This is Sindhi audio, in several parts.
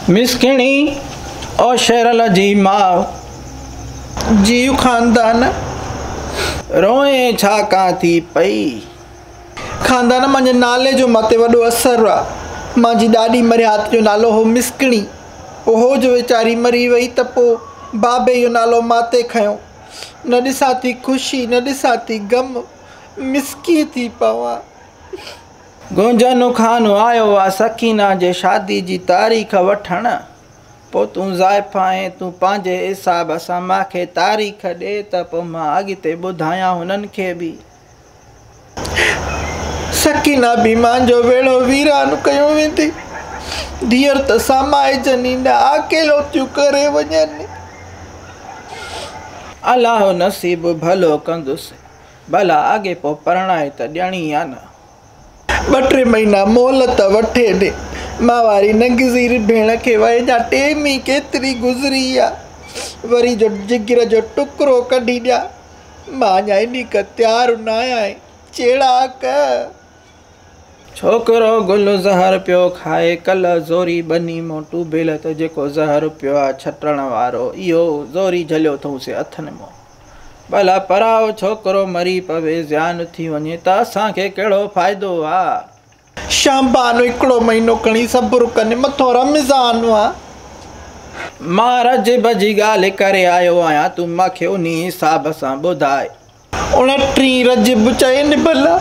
مسڪيڻي او شيرل جي ماء، جيو خاندان روئي ڇا ڪان ٿي پئي. خاندان مانجي نالي جو ماتي وڏو اثر آ. مانجي ڏاڏي مرهيات جو نالو هو مسڪيڻي. اهو جو ويچاري مري وئي ته پو بابي اهو نالو ماتي کنيو. نه ڏسان ٿي خوشي نه ڏسان ٿي غم مسڪي ٿي پوان. گونجن کان آيو آ سڪينه جي شادي جي تاريخ وٺڻ پو تون زائف آهين تون پنهنجي حساب سان ماکي تاريخ ڏي ته پو مان اڳتي ٻڌايان هنن کي به سڪينه به مان جو ويڙهو ويران ڪيو ويندي ڌيئر ته سامائجن ئي نه آڪيلو ٿيون ڪري وڃن. الله نصيب ڀلو ڪندس. ڀلا اڳي پوء پرڻائي ته ڏيڻي يا نه. ٻه ٽي مهينا مهلت وٺي به ماهواري ننگزير ڀيڻ کي وئي ڏيان. ٽيم ئي ڪيتري گذري آ، وري جو جگر جو ٽڪرو ڪڍي ڏيان. مان اڃا ايڏي ڪا تيار نه آهيان چيڙاڪ. ڇوڪرو گل زهر پيو کائي، ڪلهه زوري ٻني مون ٽوڀيل ته جيڪو زهر پيو آ ڇٽڻ وارو، اهو زوري جهليو اٿئونسي اٿن مون. ڀلا پرايو ڇوڪرو مري پوي زيان ٿي وڃي ته اسان کي ڪهڙو فائدو آ. شام بانو هڪڙو مهينو کڻي صبر ڪن مٿو رمضان آ. مان رجب جي ڳالهه ڪري آيو آهيان تون مان کي انهي حساب سان ٻڌاء. اڻٽهين رجب چئين ڀلا.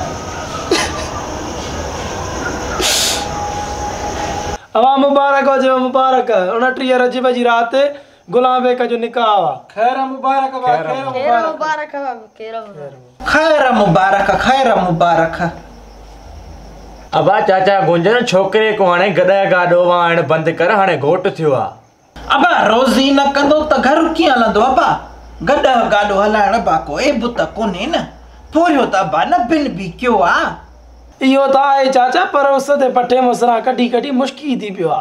اوهان مبارڪ هجيو مبارڪ. اڻٽيهه رجب جي رات غلام بيگ جو نڪاح وا. خير مبارڪ وا خير مبارڪ. خير مبارڪ خير مبارڪ. ابا چاچا گونجڻ ڇوڪري ڪو هاڻي گڏهه گاڏو وهائڻ بند ڪر هاڻي گهوٽ ٿيو آ. ابا روزي نه ڪندو ته گهر ڪيئن هلندو ابا گڏهه گاڏو هلائڻ ابا ڪو عيب ته ڪونهي نه پورهيو ته ابا نه بن بي ڪيو آ. اهو ته آهي چاچا پر اس تي پٺي مصرا ڪڍي ڪڍي مشڪي ٿي پيو آ.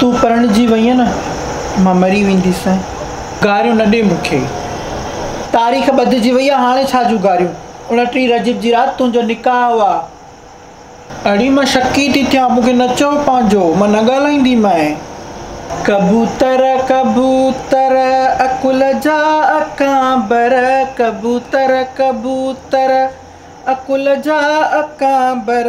تون پرڻجي وئينء نه، مان مري وينديسين. گاريون نه ڏي مون کي. تاريخ ٻڌجي وئي آ، هاڻي ڇا جون گاريون. اڻٽيهه رجب جي رات تنهنجو نڪاح هو آ. اڙي مان شڪي ٿي ٿيان، مون کي نه چئو پنهنجو، مان نه ڳالهائيندي مئين. ڪبوتر ڪبوتر عقل جا اڪانبر، ڪبوتر ڪبوتر عقل جا اڪانبر.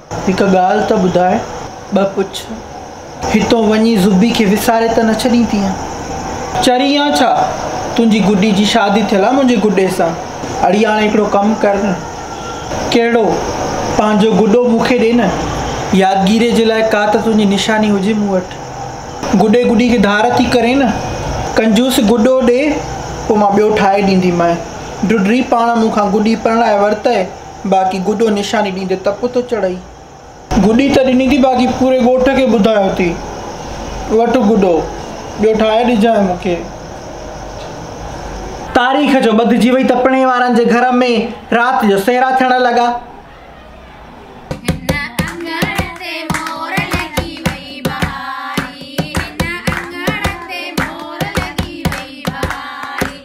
هڪ ڳالهه ته ٻڌاء، ٻه پڇ، هتو وڃي زبي کي وساري ته نه ڇڏيندينء؟ چري آن ڇا؟ تنهنجي گڏي جي شادي ٿيل آ منهنجي گڏي سان. اڙي هاڻي هڪڙو ڪم ڪر نه. ڪهڙو؟ پنهنجو گڏو مون کي ڏي نه. يادگيريء جي لاء ڪا ته تنهنجي نشاني هجي مون وٽ. گڏي گڏي کي ڌار ٿي ڪرين نه. ڪنجوس گڏو ڏي، پوء مان ٻيو ٺاهي ڏينديمانء. ڍڍڙي پاڻ مون کان گڏي پرڻائي ورتئي. باقي گڊو نشاني ڏيندي تپ ٿو چڙهئي. گڊي ته ڏني ٿي باقي پوري ڳوٺ کي ٻڌايو ٿي وٺ گڊو ٻيو ٺاهي ڏجانء مون کي. تاريخ جو ٻڌجي وئي تپڻي وارن جي گهر ۾ رات جو سهرا ٿيڻ لڳا.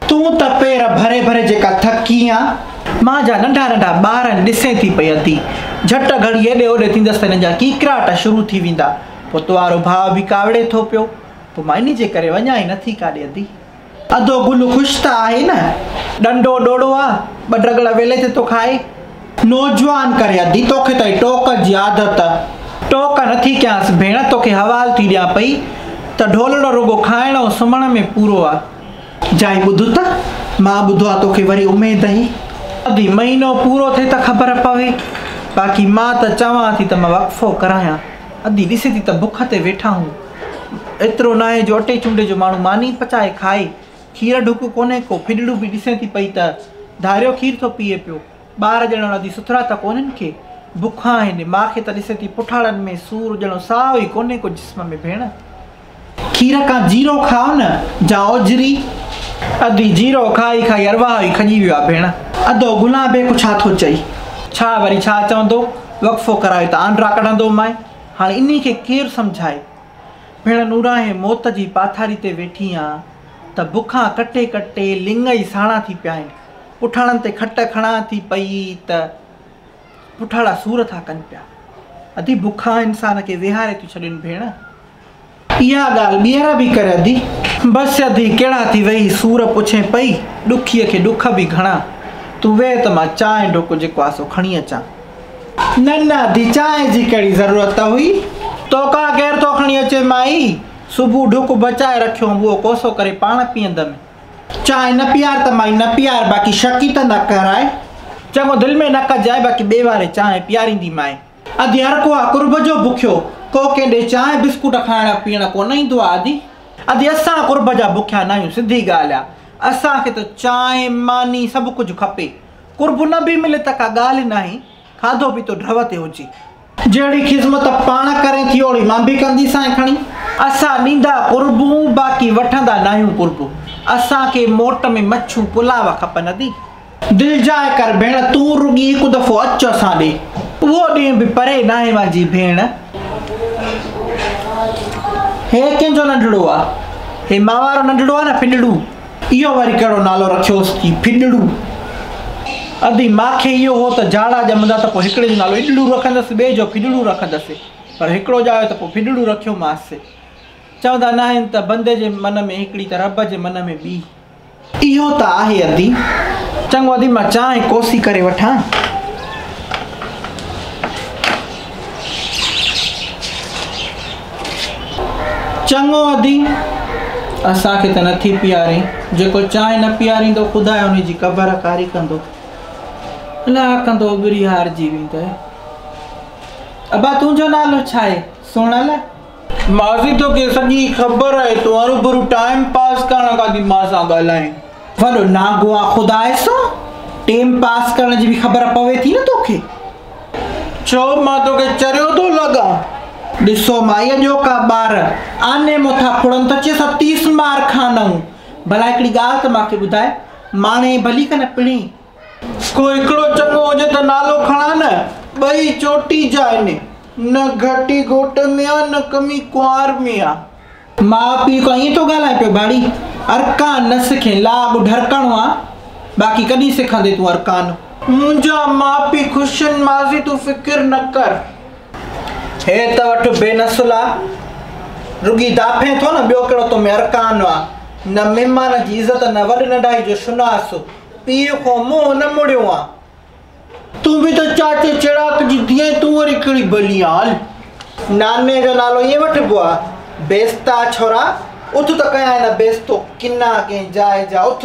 تون ته پير ڀري ڀري جيڪا ٿڪي آن. مان جا ننڍا ننڍا ٻار آهن ڏسين ٿي پئي ادي. جهٽ گهڙي هيڏي هوڏي ٿيندس ته هنن جا ڪيڪراٽ شروع ٿي ويندا. پوء تو وارو ڀاء به ڪاوڙي ٿو پيو. پوء مان انهي جي ڪري وڃان ئي نٿي ڪاڏي ادي. ادو گل خوش ته آهي نه. ڏنڊو ڏوڙو آ، ٻه ڊڳڙ ويلي تي ٿو کائي. نوجوان ڪري ادي توکي ته اهي ٽوڪ جي عادت. ٽوڪ نٿي ڪيانس ڀيڻ توکي حوال ٿي ڏيان پئي ته ڍولڙو رڳو کائڻ ۽ سمهڻ ۾ پورو آ. جائي ٻڌ ته مان ٻڌو آ توکي وري اميد هي اڀي مهينو پورو ٿئي ته خبر پوي باقي مان ته چوان ٿي ته مان وقفو ڪرايان ادي ڏسي ٿي ته بک تي ويٺا هون ايترو ناهي جو اٽي چونڊي جو ماڻهو ماني پچائي کائي کير ڍڪ ڪونهي ڪو ڦڏڙو به ڏسي ٿي پئي ته ڌاريو کير ٿو پيئي پيو ٻار ڄڻ انهن جي سٿرا ته ڪونهن ڪي بک آهن ماء کي ته ڏسي ٿي پٺاڙن ۾ سور ڄڻ ساهه ئي ڪونهي ڪو جسم ۾ ڀيڻ. کير کان جيرو کاء نه جا اوجهري. ادي جيرو کائي کائي ارواح ئي کڄي ويو آ ڀيڻ. ادو گلان بيگ ڇا ٿو چئي. ڇا وري ڇا چوندو وقفو ڪرائي ته آنڊرا ڪڍندو مائي هاڻي انهي کي ڪير سمجهائي ڀيڻ نوراهين موت جي پاٿاري تي ويٺي آن ته بکان ڪٽي ڪٽي لڱ ئي ساڻا ٿي پيا آهن. پٺاڻن تي کٽ کڻان ٿي پئي ته پٺاڻا سور ٿا ڪن پيا. ادي بکا انسان کي ويهاري ٿيون ڇڏين ڀيڻ. اها ڳالهه ٻيهر به ڪر ادي. بس ادي ڪهڙا ٿي ويهي سور پڇين پئي. ڏکيء کي ڏک به گهڻا. تون ويهه ته مان چانهه ڍوڪو جيڪو آهي سو کڻي اچان. نه نه ادي چانهه جي ڪهڙي ضرورت هئي. توکان ڪير ٿو کڻي اچي مائي. صبح ڍوڪ بچائي رکيو هئم اهو ڪوسو ڪري پاڻ پيئندم. چانهه نه پيار ته مائي نه پيار باقي شڪي ته نه ڪرائي. چڱو دل ۾ نه ڪجائي باقي ٻئي واري چانهه پياريندي مائي. ادي هر ڪو آ قرب جو بکيو ڪو ڪنهن ڏي چانهه بسڪوٽ کائڻ پيئڻ ڪو نه ايندو آ ادي. ادي اسان قرب جا بکيا ناهيون سڌي ڳالهه آ اسان کي ته چانهه ماني سڀ ڪجهه کپي قرب نه به ملي ته ڪا ڳالهه ناهي. کاڌو پيتو ڍؤ تي هجي. جهڙي خذمت پاڻ ڪرين ٿي اوڙي مان به ڪندي سانء کڻي. اسان ڏيندا قربون باقي وٺندا ناهيون قربو. اسان کي موٽ ۾ مڇون پلاو کپن ادي. دلجاء ڪر ڀيڻ تون رڳي هڪ دفعو اچ اسان ڏي. اهو ڏينهن به پري ناهي منهنجي ڀيڻ. هي ڪنهن جو ننڍڙو آ. هي مان وارو ننڍڙو آ نه ڦنڊڙو. اهو وري ڪهڙو نالو رکيوس ٿي ڦڏڙو. ادي ماکي اهو هو ته جاڙا ڄمندا ته پوء هڪڙي جو نالو اڏڙو رکندس ٻئي جو ڦڏڙو رکندس پر هڪڙو ڄايو ته پوء ڦڏڙو رکيومانس. چوندا ناهن ته بندي جي من ۾ هڪڙي ته رب جي من ۾ ٻي. اهو ته آهي ادي. چڱو ادي مان چانهه ڪوسي ڪري وٺان. چڱو ادي، اسان کي ته نه ٿي پيارين، جيڪو چانهه نه پياريندو، خداء ان جي قبر ڪاري ڪندو. الاهه ڪندو اٻري هارجي ويندء. ابا تنهنجو نالو ڇا آهي؟ سونل، ماسي توکي سڄي خبر آهي تون هروڀرو ٽائيم پاس ڪرڻ لاء ٿي مان سان ڳالهائين. وڏو نانگوان خدا سو ٽيم پاس ڪرڻ جي به خبر پوي ٿي نه توکي. ڇو مان توکي چريو ٿو لڳان. ڏسو مائي اڄوڪا ٻار آني مون ٿا ڦڙن ته چيس ها تيس مار کانئون. ڀلا هڪڙي ڳالهه ته مان کي ٻڌاء ماڻهي ڀلي ڪن پڻهي ڪو هڪڙو چڱو هجي ته نالو کڻان نه ٻئي چوٽي جا آهن نه گهٽي گهوٽ ۾ آ نه ڪمي ڪنوار ۾ آ. ماء پيء کان ائين ٿو ڳالهائين پيو ٻاڙي ارڪان نه سکين لا اڳ ڍرڪڻو آ باقي ڪڏهن سکندين تون ارڪان. منهنجا ماء پيء خوش آهن ماضي تون فڪر نه ڪر. هي ته وٺ بي نسل آ رڳي داڦين ٿو نه ٻيو ڪهڙو تو ۾ ارڪان آ نه مهمان جي عزت نه وڏ ننڍائي جو شناس. پيء کان منهن نه مڙيو آ. تون به ته چاچي چراڪ جي ڌيء آهين، تون وري ڪهڙي ٻلي آن هل. ناني جو نالو ائين وٺبو آ. بيستا ڇورا، اٿ ته ڪيائين نه بيستو، ڪنا ڪنهن جاء جا اٿ.